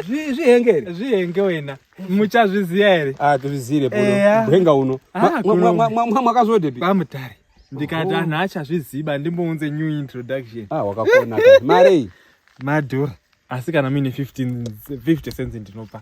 zvihengere zvihenge wena muchazviziva here atizviziire ah, bwenga uno ah, mwakazodepi kwamutare ndikati anhu achazviziva ndimbounze new introduction ah, wakakona marei madhura asi kana muine 50 cents ndinopa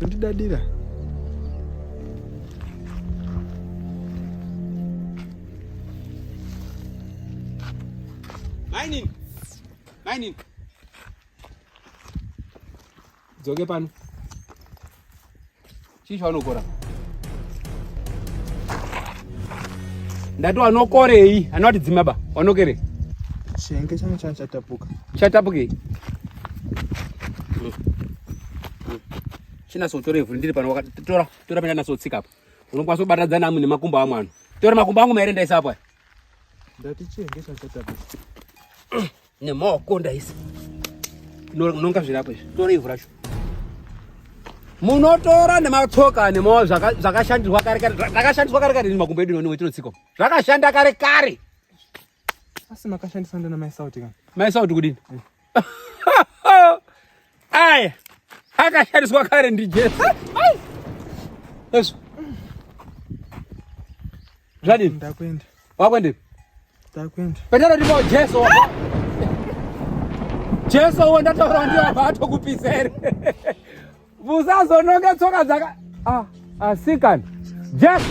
Ndidadira. Mining. Mining. Dzoke pano. Chii chaunokora? Ndati wanokorei? Anoti dzimaba, wanokerei? Chenge changu changa chatapuka. Chatapukei? Chinaso utora ivhu ndiri pano wakati tora tora penda naso tsika apa. Unokwanisa kubatadza namu nemakumbo amwana. Tora makumbo angu maere ndaisa apa. Ndati chenge changu chatapuka. nemaoko ndaisa nonga zvirapo izvi tora ivhu racho munotora nematsoka nemaoko zvakashandiswa kare kare zvakashandiswa kare kare makumbo edu noniwe tinotsiko zvakashanda kare kare asi makashandisa ndana maisauti kana maisauti kudini eh. Aya akashandiswa kare ndiJesu. Yesu. Zvadini? Ndakwenda. Wakwendepi? Ndakwenda. Petero ndipo Jesu wako. Jesu wo ndataura ndiye wabva atokupisa here? Musazononge tsoka dzaka ah asikana. Jesu.